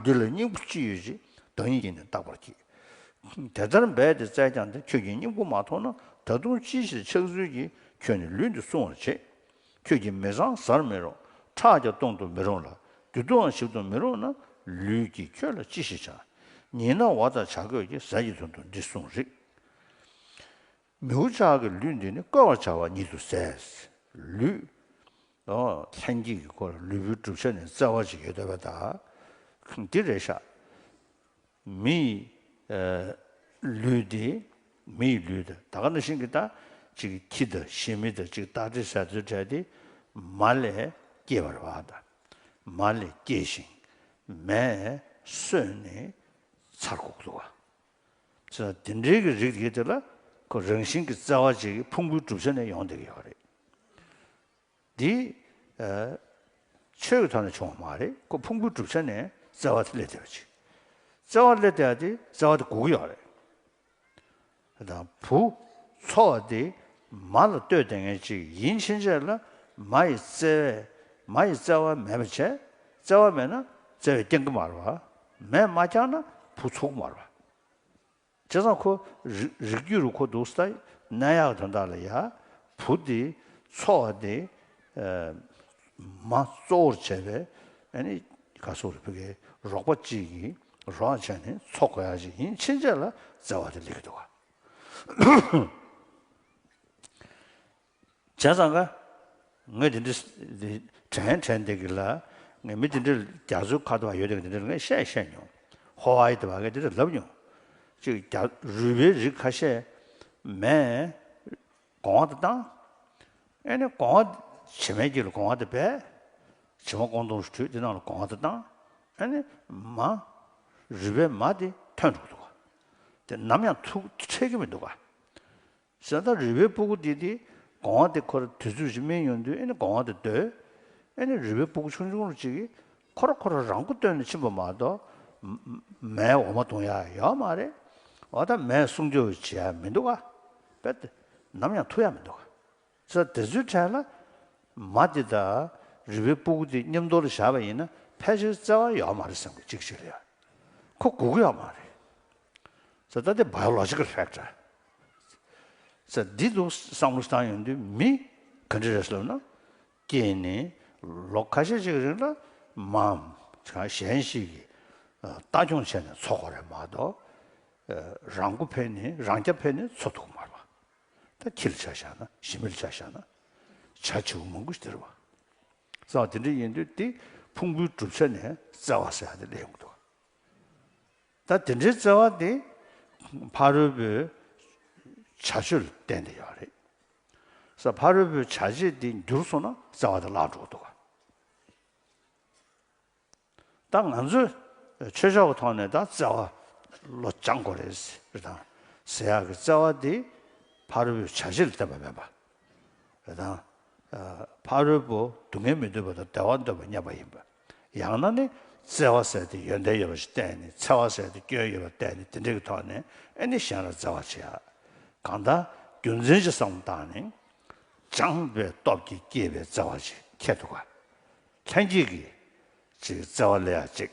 འདི་ལ་སྙིང་པོ་ཅི་ཡོད་ཅེས་བདག་ཉིད་ཀྱིས་ནི་བརྟག་པར་གྱིས། དེ་ལྟར་འབད་དེ་བཙལ་ཀྱང་དེ་ཁྱོད་ཀྱིས་སྙིང་པོ་མ་མཐོང་ན་ད་དུང་ཅིའི་ཕྱིར་ཆགས་ཚུལ་གྱིས་ཁྱོད་ནི་ལུས་འདི་བསྲུང་བར་བྱེད། ཁྱོད་ཀྱིས་མི་བཟང་བཟར་མི་རུང་ཁྲག་ཀྱང་གཏོང་དུ་མི་རུང་ལ་རྒྱུ་དུའང་ཞིག་ཏུ་མི་རུང་ན་ལུས་ཀྱིས་ཁྱོད་ལ་ཅི་ཞིག་བྱ། ཉིན་ན་བ་དག་བྱ་རྒོད་ཀྱི་ཟས་ཀྱི་དོན་དུ་འདི་བསྲུང་རིགས། མིའུ་ཅག་གིས་ལུས་འདི་ནི་བཀོལ་བར་བྱ་བ་ཉིད་དུ་ཟད། ལུས། ལྷན་སྐྱེས་ཀྱི་འཁོར་ལོ་ལུས་པོའི་བསྒྲུབ་བྱ་ནི་བཙལ་བར་བྱེད་ཀྱི་འདོད་པ་དག་གི་རེ་བཞག། མི་ཡི། ལུས་འདི། མི་ཡི་ལུས་དང་ད་ག་ན་ཤིང་གི་རྟ། ཅིག་ཁྱི་དང་ཤིང་མི་དང་ཅིག་སྟག་དྲི་ཟའི་ཚུལ་བྲལ་ཏེ། མ་ལས་སྐྱེས་པར་བ་དང། མ་ལས་སྐྱེས་ཤིང། མས། སོས་ནི། ཚར་གོག་ཏུ་བ། ཚུལ་དང་དེ་འབྲེལ་གྱི་རིགས་དེ་དེ་ལ་ཁོ་རང་བཞིན་གྱིས་བརྩེ་བ་བཅས་ཀྱི་ཕུང་པོའི་གྲུབ་ཆ་ནས་ཡོང་བསྡད་ཀྱི་ཡོད་པ་རེད། འདི། ཆོས་ཀྱི་ཐོག་ནས་བྱུང་བ་མ་རེད་ཁོ་ཕུང་པོའི་གྲུབ་ཆ་ནས་བརྩེ་བ་དེ་སླེབས་བསྡད་པ་ཅིག། བརྩེ་བ་སླེབས་བསྡད་དེ་བརྩེ་བ་དེ་སྒུག་གི་ཡོད་རེད། དང་བུ། འཚོ་བ་འདི་མ་ལ་ལྟོས་བསྡད་མཁན་ཅིག་ཡིན་ཕྱིན་ཆད་ལ་མ་ཡི་བརྩེ་བས་མ་ཡི་བརྩེ་བ་མེད་པ་བྱས། བརྩེ་བ་མེད་ན་བརྩེ་བའི་སྟེང་གི་མར་བ་མས་མ་བསྐྱངས་ན་བུ་ཚུགས་མར་བ། བྱས་ཙང་ཁོ། རིགས་རྒྱུད་རུ་ཁོ་འདུག་ས་ཏྭ་ནད་ཡག་དོན་དག་ལ་ཡ། བུ་འདི། འཚོ་བ་འདི། མ། གཙོ་བོར་བྱས་པའི། ཨེ་ནི། ག་སོ་རི་བུ་གའི། རོགས་པ་གཅིག་གིས། རོགས་བྱས་ནི་འཚོ་དགོས་ཡག་ཅིག་ཡིན་ཕྱིན་ཆད་ལ་བརྩེ་བ་དེ་ལེགས་གི་འདུག་ག། བྱས་ཙང་ཀ། ངས་དེ་འདྲི། དྲན། དྲན་འདི་གི་ལ། ངས་མི་དེ་འདྲི་རྒྱ་མཚོའི་ཁ་དོག་ཡོད་དེ་གི་དེ་འདྲི་ངས་བཤད་བཤད་མྱོང། ཧོ་ཨ་ཡི་དེ་བ་ངས་དེ་འདྲི་ལབ་མྱོང། ཅིག་རྒྱ། རུས་པའི་རིགས་ཁ་ཤས། མས། གོང་བ་དེ་བཏང། ཨེ་ནས་གོང་བ། བྱེ་མའི་རྒྱུད་ལ་གོང་བ་དེ་བས། བྱེ་མ་ཀོང་དུང་ཞུ་དྲུད་དེ་རྣམས་ལ་གོང་བ་དེ་བཏང། ཨེ་ནས། མ། རུས་པའི་མ་དེ་ཐོན་འགྲོ་གི་འདུག་ག། དེ་ནམ་ཡང་ཐུག་འཕྲད་ཀྱི་མི་འདུག་ག། གསེར་དང་རི་བོའི་སྤུ་གུ་འདི་དེ། གོང་བ་དེ་ཁོ་ར་དུས་ཚོད་བཞི་མན་ཡོང་དུས་ཨེ་ནི་གོང་བ་དེ་སྡོད། ཨེ་ནི་རི་བོའི་སྤུ་གུ་ཆུང་ཆུང་རུ་གཅིག། ཁོ་ར་ཁོ་ར་རང་སྐུ་སྟོན་ནས་ཕྱིན་པ་མ་གཏོགས། མའི་འོ་མ་འཐུང་ཡ་ཡོད་མ་རེད། འོ་ད་མས་གསུང་ཆོས་བྱེད་ཡ་མི་འདུག་ག། དཔེ་དེ། ནམ་ཡང་ཐུག་ཡ་མི་འདུག་ག། ཚེ་དེ་ཚོའི་གྲས་ལ། མ་དེ་དང། རི་བོའི་སྤུ་གུ་དེ་མཉམ་འདོར་ལ་བཞག་པ་ཡིན་ན་ཕལ་ཆེར་བརྩེ་བ་ཡོད་མ་རེད་སེམས་ཀྱི་གཅིག་གཅིག་ལ་ཡ། ཁོ་སྒུག་ཡོད་མ་རེད། ཚེ་ད་དེ་བ་ཡོ་ལོ་ཇི་ཀི་ཧྲེག་གྲ། ས་འདི་འདུག་བསམ་བློ་བཏང་ཡོང་དུས་མི་ག་འདྲི་རེད་བསམ་ན། ཀྱེ་ནི་ལོ་ཁ་ཤས་ཤིག་རིང་ལ་འམ་གང་གཞན་ཞིག་གིས་ལྟ་སྐྱོང་བྱས་ནས་འཚོ་གོ་རེད་མ་གཏོགས། རང་མགོ་ཕན་ནི་རང་སྐྱ་ཕན་ནི་འཚོ་ཐུག་མར་བ། ད་ཁྱི་ལ་ཆ་བཞག་ན་ཞི་མི་ལ་ཆ་བཞག་ན་བྱ་བྱེའུ་མང་པོ་སྟེར་བ། བསམ་བློ་དེ་འདྲ་ཡིན་དུས་དེ་ཕུང་པོའི་གྲུབ་ཆ་ནས་བཙལ་བ་ཟེར་ཡག་དེ་ལས་ཡོང་གི་འདུག། ད་དེ་འདྲའི་བརྩེ་བ་དེ་ཕ་རོལ་པོའི་བྱ་སྤྱོད་ལ་བརྟེན་ཏེ་ཡོད་རེད། ས་ཕ་རོལ་པོའི་བྱ་བྱེད་དེ་འགྱུར་སོང་ན་བརྩེ་བ་དེ་བརླག་འགྲོ་གི་འདུག་ད་ང་ཚོས་ཆོས་ཕྱོགས་ཀྱི་ཐོག་ནས་ད་བརྩེ་བ་བློ་སྦྱང་དགོས་རེད། ཟེར་དང། ཟེར་ཡག་གི་བརྩེ་བ་དེ་ཕ་རོལ་པོའི་བྱ་བྱེད་ལ་བརྟེན་པ་མིན་པ་རེ་དང། ཕ་རོལ་པོ་སྡུག་བསྔལ་མི་འདོད་པ་དང་བདེ་བ་འདོད་པ་སྙམ་པ་ཡིན་པ། ཡང་ན་ནི་བརྩེ་བ་ཟད་དེ་ཡོན་ཏན་ཡོད་པ་ཞིག་བསྟན་ནས་འཚེ་བ་ཟད་དེ་སྐྱོན་ཡོད་པ་བསྟན་ནས་དེ་འདྲ་གི་ཐོག་ནས་ཨེ་ནི་གཞན་ལ་བརྩེ་བ་བྱེད་ཨ། གང་ལྟར་རྒྱུ་མཚན་གྱི་བསམ་བློ་དང་ནི། སྦྱངས་པའི་སྟོབས་ཀྱིས་བསྐྱེད་པའི་བརྩེ་བ་ཅིག་ཁྱེད་དུ་དགའ། ལྷན་སྐྱེས་ཀྱིས། ཅིག་བརྩེ་བ་ལས་ཡག་ཅིག།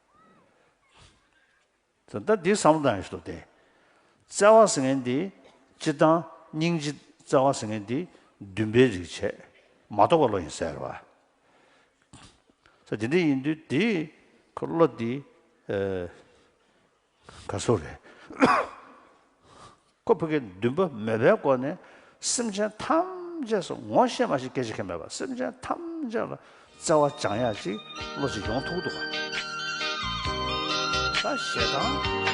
ད་ལྟ་འདི་བསམ་བློ་བཏང་ཡོད་ཞིག་འདུག་སྟེ། བརྩེ་བ་ཟེར་མཁན་འདི་སྤྱིར་བཏང་སྙིང་རྗེ་བརྩེ་བ་ཟེར་མཁན་འདི་འདུན་པའི་རིགས་བྱས་མ་གཏོགས་པ་བློ་ཡིན་ཟེར་བ། ས་དེ་འདྲ་ཡིན་དུས་དེ་ཁོ་བློ་འདི། ག་ཚོད་རེད། ཁོ་བོ་དགེ་འདུན་པ་མོས་པའི་སྒོ་ནས་སེམས་ཅན་ཐམས་ཅད་སུ་ངོ་ཤེས་མ་ཤེས་སྐད་ཆ་ཁས་མེད་པར་སེམས་ཅན་ཐམས་ཅད་ལ་བརྩེ་བ་སྦྱང་ཡ་ཅིག་བློ་གཅིག་ཡོང་ཐུག་འདུག་ག། ད་ཞེ་སྡང།